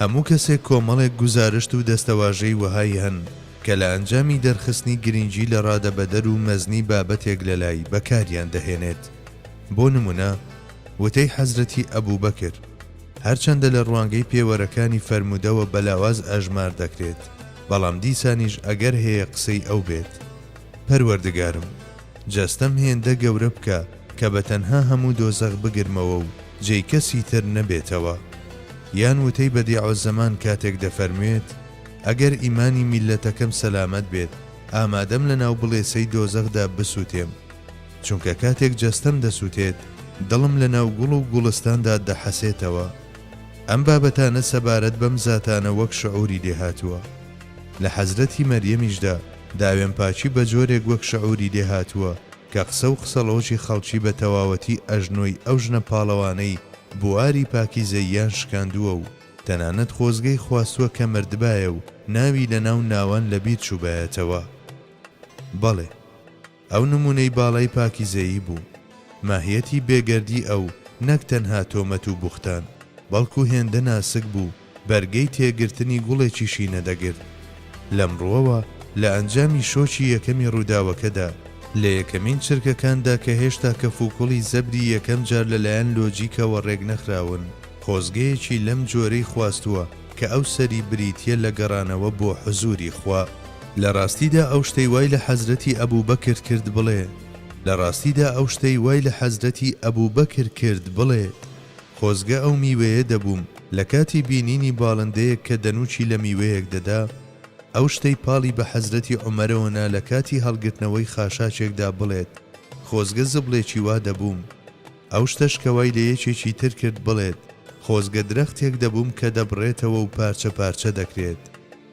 هەموو کەسێک کۆمەڵێک گوزارشت و دەستەواژەی وەهای هەن کە لە ئەنجامی دەرخستنی گرینگی لە ڕادەبەدەر و مەزنی بابەتێک لە لای بەکاریان دەهێنێت بۆ نمونە وتەی حەزرەتی ئەبوبەکر هەرچەندە لە ڕوانگەی پێوەرەکانی فەرموودەوە بە لاواز ئەژمار دەکرێت بەڵام دیسانیش ئەگەر هەیە قسەی ئەو بێت پەروەردگارم جەستەم هێندە گەورە بکە کە بە تەنها هەموو دۆزەخ بگرمەوە و جێی کەسی تر نەبێتەوە. یان وتەی بەدیعوزەمان کاتێک دەفەرموێت، ئەگەر ئیمانی میللەتەکەم سەلامەت بێت، ئامادەم لە ناو بڵێسەی دۆزەخدا بسوتێم. چونکە کاتێک جەستەم دەسوتێت، دڵم لە ناو گوڵ و گوڵستاندا دەحەسێتەوە. ئەم بابەتانە سەبارەت بەم زاتانە وەک شعوری لێ هاتووە. لە حەزرەتی مەریەمیشدا داوێن پاکی بە جۆرێک وەک شعوری لێ هاتووە، کە قسە و قسەڵۆکی خەڵکی بە تەواوەتی ئەژنۆی ئەو ژنە پاڵەوانەی بواری پاکیزەییان شکاندووە و تەنانەت خۆزگەی خواستووە کە مردبایە و ناوی لە ناو ناوان لە بیر چووبایەتەوە. بەڵێ. ئەو نموونەی باڵای پاکیزەیی بوو. ماهیەتی بێگەردی ئەو نەک تەنها تۆمەت و بوختان، بەڵکو هێندە ناسک بوو، بەرگەی تێگرتنی گوڵێکیشی نەدەگرت. لەم ڕووەوە لە ئەنجامی شۆکی یەکەمی ڕووداوەکەدا، لە یەکەمین چرکەکاندا کە هێشتا کەفوکوڵی زەبری یەکەم جار لەلایەن لۆجیکەوە ڕێکنەخراون، خۆزگەیەکی لەم جۆرەی خواستووە کە ئەو سەری بریتییە لە گەڕانەوە بۆ حوزووری خوا. لە ڕاستیدا ئەو شتەی وای لە حەزرەتی ئەبووبەکر کرد بڵێ، لە ڕاستیدا ئەو شتەی وای لە حەزرەتی ئەبووبەکر کرد بڵێ، خۆزگە ئەو میوەیە دەبووم لە کاتی بینینی باڵندەیەک کە دەنووکی لە میوەیەک دەدا، ئەو شتەی پاڵی بە حەزرەتی عومەرەوە نا لە کاتی هەڵگرتنەوەی خاشاکێکدا بڵێت، خۆزگە زبڵێکی وا دەبووم. ئەو شتەش کە وای لە یەکێکی تر کرد بڵێت، خۆزگە درەختێک دەبووم کە دەبڕێتەوە و پارچە پارچە دەکرێت.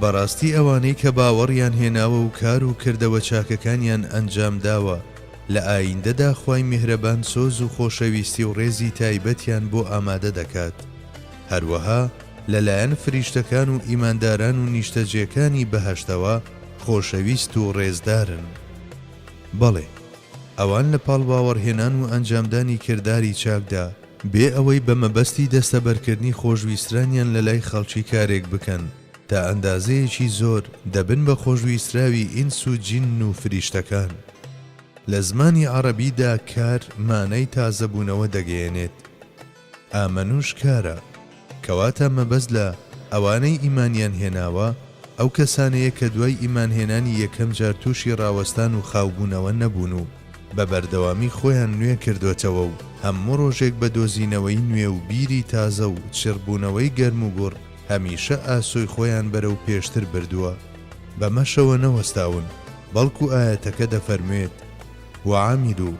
بەڕاستی ئەوانەی کە باوەڕیان هێناوە و کار و کردەوە چاکەکانیان ئەنجام داوە، لە ئاییندەدا خوای میهرەبان سۆز و خۆشەویستی و ڕێزی تایبەتیان بۆ ئامادە دەکات، هەروەها لە لایەن فریشتەکان و ئیمانداران و نیشتەجێکانی بەهەشتەوە خۆشەویست و ڕێزدارن. بەڵێ، ئەوان لە پاڵ باوەڕهێنان و ئەنجامدانی کرداری چاکدا، بێ ئەوەی بە مەبەستی دەستەبەرکردنی خۆشویسترانیان لە لای خەڵکی کارێک بکەن، تا ئەندازەیەکی زۆر دەبن بە خۆشویستراوی ئینس و جین و فریشتەکان. لە زمانی عەڕەبیدا کار مانای تازەبوونەوە دەگەیەنێت، ئامەنوش کارە. کەواتە مەبەست لە، ئەوانەی ئیمانیان هێناوە، ئەو کەسانەیە کە دوای ئیمانهێنانی یەکەم جار تووشی ڕاوەستان و خاوبوونەوە نەبوون و بە بەردەوامی خۆیان نوێ کردۆتەوە و هەموو ڕۆژێک بە دۆزینەوەی نوێ و بیری تازە و چڕبوونەوەی گەرموگوڕ هەمیشە ئاسۆی خۆیان بەرەو پێشتر بردووە بەمەشەوە نەوەستاون بەڵکو ئایەتەکە دەفەرموێت، وعملوا،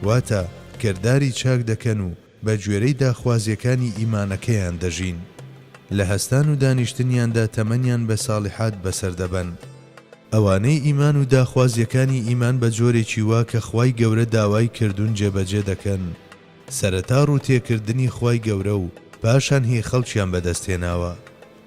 واتە، کرداری چاک دەکەن و. بە گوێرەی داخوازیەکانی ئیمانەکەیان دەژین. لە هەستان و دانیشتنیاندا تەمەنیان بە ساڵیحات بەسەر دەبەن. ئەوانەی ئیمان و داخوازیەکانی ئیمان بە جۆرێکی وا کە خوای گەورە داوای کردون جێبەجێ دەکەن، سەرەتا ڕووتێکردنی خوای گەورە و پاشان هی خەڵکیان بەدەست هێناوە.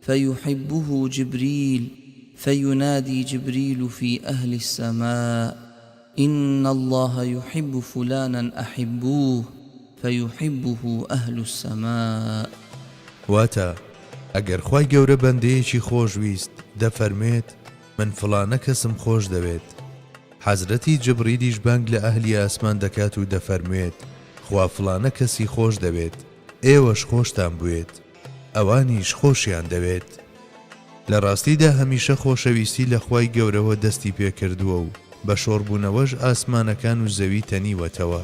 فیحبه جبریل فینادی جبریل فی اهل السماء ان الله یحب فلانا احبوه فیحبه اهل السماء. واتە، ئەگەر خوای گەورە بەندەیەکی خۆش ویست دەفەرموێت، من فڵانە کەسم خۆش دەوێت. حەزرەتی جبریلیش بانگ لە ئەهلی ئاسمان دەکات و دەفەرموێت، خوا فڵانە کەسی خۆش دەوێت، ئێوەش خۆشتان بوێت. ئەوانیش خۆشیان دەوێت. لە ڕاستیدا هەمیشە خۆشەویستی لە خوای گەورەوە دەستی پێکردووە و بە شۆڕبوونەوەش ئاسمانەکان و زەوی تەنیوەتەوە.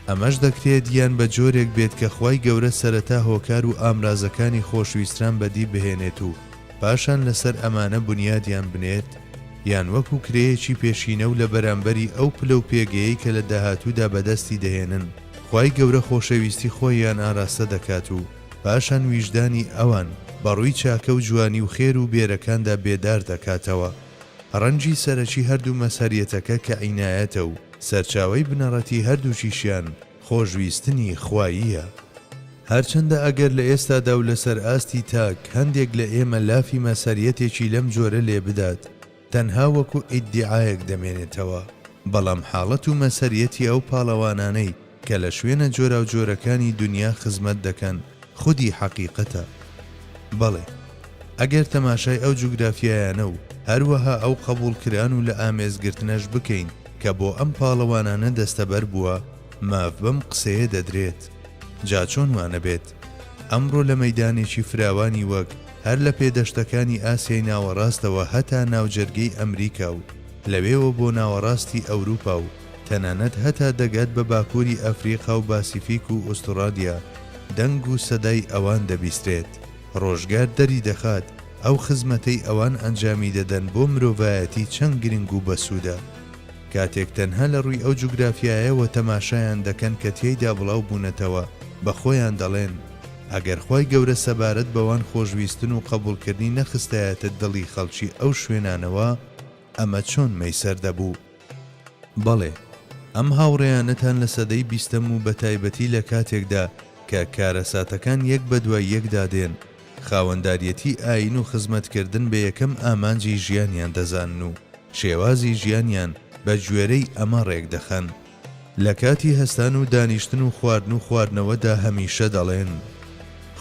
ئەمەش دەکرێت یان بە جۆرێک بێت کە خوای گەورە سەرەتا هۆکار و ئامرازەکانی خۆشویستران بەدی بهێنێت و، پاشان لەسەر ئەمانە بونیادیان بنێت، یان وەکو کرێیەکی پێشینە و لە بەرامبەری ئەو پلە و پێگەیەی کە لە داهاتوودا بەدەستی دەهێنن، خوای گەورە خۆشەویستی خۆییان ئاراستە دەکات و پاشان ویژدانی ئەوان بە ڕووی چاکە و جوانی و خێر و بێرەکاندا بێدار دەکاتەوە. ڕەنجی سەرەکی هەردوو مەزهەریەتەکە کە عینایەتە و سەرچاوەی بنەڕەتی هەردووکیشیان، خۆشویستنی خواییە. هەرچەندە ئەگەر لە ئێستادا و لەسەر ئاستی تاک هەندێک لە ئێمە لافی مەسەریەتێکی لەم جۆرە لێ بدات تەنها وەکو ئیدیعایەک دەمێنێتەوە، بەڵام حاڵەت و مەسەریەتی ئەو پاڵەوانانەی کە لە شوێنە جۆراوجۆرەکانی دونیا خزمەت دەکەن، خودی حەقیقەتە. بەڵێ، ئەگەر تەماشای ئەو جوگرافیایانە و هەروەها ئەو قەبووڵکران و لە ئامێز گرتنەش بکەین کە بۆ ئەم پاڵەوانانە دەستەبەر بووە، ماف بەم قسەیە دەدرێت. جا چۆن وا نەبێت؟ ئەمڕۆ لە مەیدانێکی فراوانی وەک هەر لە پێدەشتەکانی ئاسیای ناوەڕاستەوە هەتا ناوجەرگەی ئەمریکا و لەوێوە بۆ ناوەڕاستی ئەوروپا و تەنانەت هەتا دەگات بە باکووری ئەفریقا و باسیفیک و ئوستوڕالیا دەنگ و سەدای ئەوان دەبیسترێت. ڕۆژگار دەریدەخات ئەو خزمەتەی ئەوان ئەنجامی دەدەن بۆ مرۆڤایەتی چەند گرنگ و بەسوودە. کاتێک تەنها لە ڕووی ئەو جوگرافیایەوە تەماشایان دەکەن کە تیایدا بڵاو بوونەتەوە بە خۆیان دەڵێن، ئەگەر خوای گەورە سەبارەت بەوان خۆشویستن و قەبووڵکردنی نەخستایەتە دڵی خەڵکی ئەو شوێنانەوە ئەمە چۆن مەیسەر دەبوو؟ بەڵێ، ئەم هاوڕێیانەتان لە سەدەی بیستەم و بەتایبەتی لە کاتێکدا کە کارەساتەکان یەک بەدوای یەکدا دێن، خاوەنداریەتی ئایین و خزمەتکردن بە یەکەم ئامانجی ژیانیان دەزانن و شێوازی ژیانیان بە گوێرەی ئەمە ڕێکدەخەن. لە کاتی هەستان و دانیشتن و خواردن و خواردنەوەدا هەمیشە دەڵێن،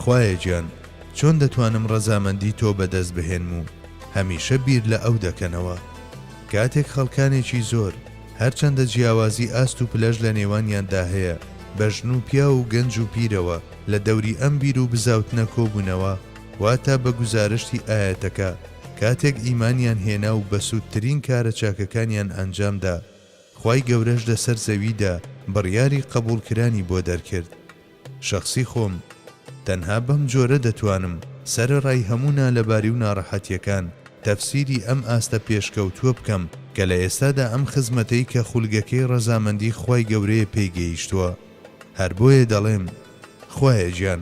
خوایە گیان چۆن دەتوانم ڕەزامەندی تۆ بەدەست بهێنم و هەمیشە بیر لە ئەو دەکەنەوە. کاتێک خەڵکانێکی زۆر هەرچەندە جیاوازی ئاست و پلەش لە نێوانیاندا هەیە بە ژن و پیاو و گەنج و پیرەوە لە دەوری ئەم بیر و بزاوتنە کۆبوونەوە واتا بە گوزارشتی ئایەتەکە کاتێک ئیمانیان هێنا و بەسوودترین کارە چاکەکانیان ئەنجامدا خوای گەورەش لە سەر زەویدا بڕیاری قەبوڵ کرانی بۆ دەرکرد شەخسی خۆم تەنها بەم جۆرە دەتوانم سەرە ڕای هەموو نالەباری و ناڕەحەتیەکان تەفسیری ئەم ئاستە پێشکەوتوە بکەم کە لە ئێستادا ئەم خزمەتەی کە خولگەکەی ڕەزامەندی خوای گەورەیە پێی گەیشتوە هەر بۆیە دەڵێم خوایە گیان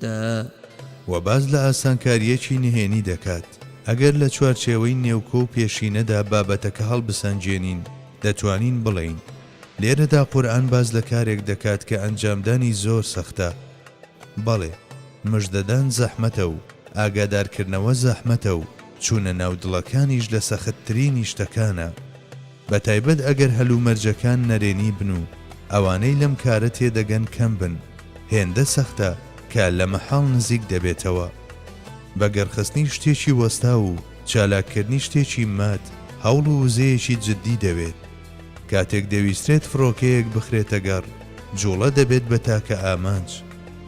دا. و باس لە ئاسانکارییەکی نهێنی دەکات، ئەگەر لە چوارچێوەی نێوکۆ و پێشینەدا بابەتەکە هەڵبسەنگێنین، دەتوانین بڵێین، لێرەدا قورئان باس لە کارێک دەکات کە ئەنجامدانی زۆر سەختە. بەڵێ، مژدەدان زەحمەتە و ئاگادارکردنەوە زەحمەتە و چوونە ناو دڵەکانیش لە سەختترینی شتەکانە. بە تایبەت ئەگەر هەلومەرجەکان نەرێنی بن و ئەوانەی لەم کارە تێدەگەن کەم بن، هێندە سەختە کە لە مەحاڵ نزیک دەبێتەوە. بە گڕخستنی شتێکی وەستاو و چالاککردنی شتێکی مات هەوڵ و وزەیەکی جددی دەوێت. کاتێک دەویسترێت فڕۆکەیەک بخرێتە گەڕ، جووڵە دەبێت بە تاکە ئامانج.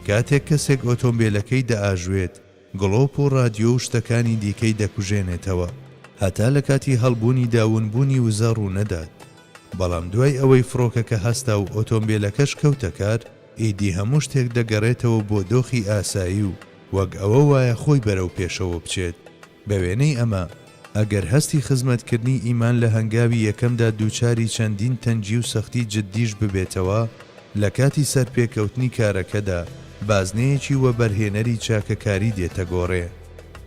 کاتێک کەسێک ئۆتۆمبێلەکەی دەئاژوێت، گڵۆپ و ڕادیۆ و شتەکانی دیکەی دەکوژێنێتەوە هەتا لە کاتی هەڵبوونیدا ونبوونی وزە ڕوو نەدات، بەڵام دوای ئەوەی فڕۆکەکە هەستا و ئۆتۆمبێلەکەش کەوتە کار، ئیدی هەموو شتێک دەگەڕێتەوە بۆ دۆخی ئاسایی و وەک ئەوە وایە خۆی بەرەو پێشەوە بچێت، بە وێنەی ئەمە، ئەگەر هەستی خزمەتکردنی ئیمان لە هەنگاوی یەکەمدا دووچاری چەندین تەنگی و سەختی جددیش ببێتەوە، لە کاتی سەرپێکەوتنی کارەکەدا بازنەیەکی وەبەرهێنەری چاکەکاری دێتە گۆڕێ.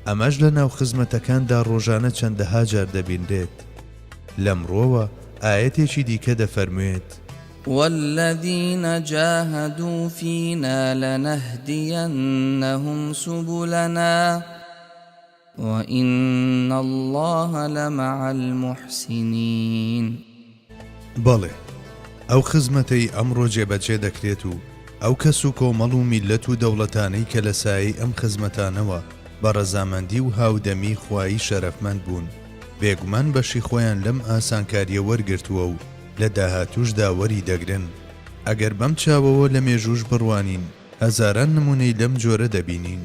ئەمەش لە ناو خزمەتەکاندا ڕۆژانە چەندەها جار دەبینرێت. لەمڕۆوە ئایەتێکی دیکە دەفەرموێت. والذین جاهدوا فینا لنهدینهم سبلنا. وان اللە لمع المحسنین. بەڵێ، ئەو خزمەتەی ئەمڕۆ جێبەجێ دەکرێت و ئەو کەس و کۆمەڵ و میللەت و دەوڵەتانەی کە لە سایەی ئەم خزمەتانەوە بە ڕەزامەندی و هاودەمی خوایی شەرەفمەند بوون، بێگومان بەشی خۆیان لەم ئاسانکارییە وەرگرتووە و لە داهاتووشدا وەریدەگرن. ئەگەر بەم چاوەوە لە مێژووش بڕوانین، هەزاران نموونەی لەم جۆرە دەبینین.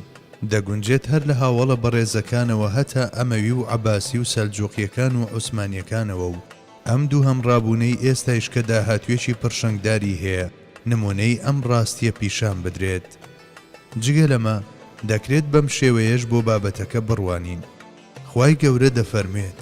دەگونجێت هەر لە هاوەڵە بەڕێزەکانەوە هەتا ئەمەوی و عەباسی و سەلجووقییەکان و عوسمانییەکانەوە و ئەم دووهەم ڕابوونەی ئێستایش کە داهاتوویەکی پڕشنگداری هەیە نموونەی ئەم ڕاستییە پیشان بدرێت. جگە لەمە، دەکرێت بەم شێوەیەش بۆ بابەتەکە بڕوانین. خوای گەورە دەفەرموێت.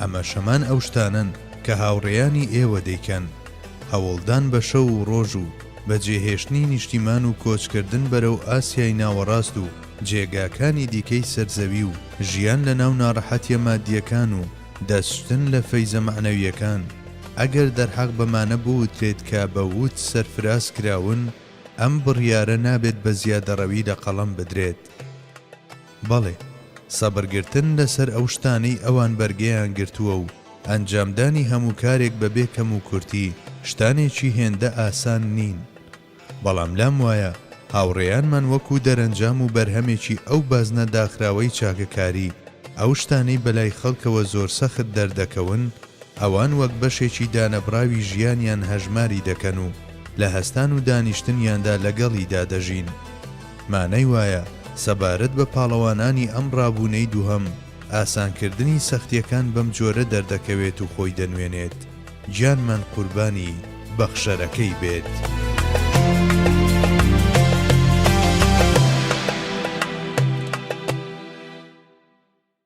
ئەمەش هەمان ئەو شتانەن کە هاوڕێیانی ئێوە دەیکەن، هەوڵدان بە شەو و ڕۆژ و بەجێهێشتنی نیشتیمان و کۆچکردن بەرەو ئاسیای ناوەڕاست و جێگاکانی دیکەی سەر زەوی و ژیان لە ناو ناڕەحەتیە مادیەکان و دەستشتن لە فەیزە مەعنەویەکان ئەگەر دەرحەق بەمانە بوترێت کە بە ووت سەرفراز کراون ئەم بڕیارە نابێت بە زیادەڕەوی لە قەڵەم بدرێت. بەڵێ، سەبر گرتن لەسەر ئەو شتانەی ئەوان بەرگەیان گرتووە و ئەنجامدانی هەموو کارێک بەبێ کەموکورتی شتانێکی هێندە ئاسان نین. بەڵام لام وایە هاوڕێیانمان وەکوو دەرەنجام و بەرهەمێکی ئەو بازنە داخراوەی چاکەکاری، ئەو شتانەی بەلای خەڵکەوە زۆر سەخت دەردەکەون، ئەوان وەک بەشێکی دانەبڕاوی ژیانیان هەژماری دەکەن و لە هەستان و دانیشتنیاندا لەگەڵیدا دەژین. مانای وایە سەبارەت بە پاڵەوانانی ئەم ڕابوونەی دووهەم، ئاسانکردنی سەختیەکان بەم جۆرە دەردەکەوێت و خۆی دەنوێنێت، گیانمان قوربانی بەخشەرەکەی بێت.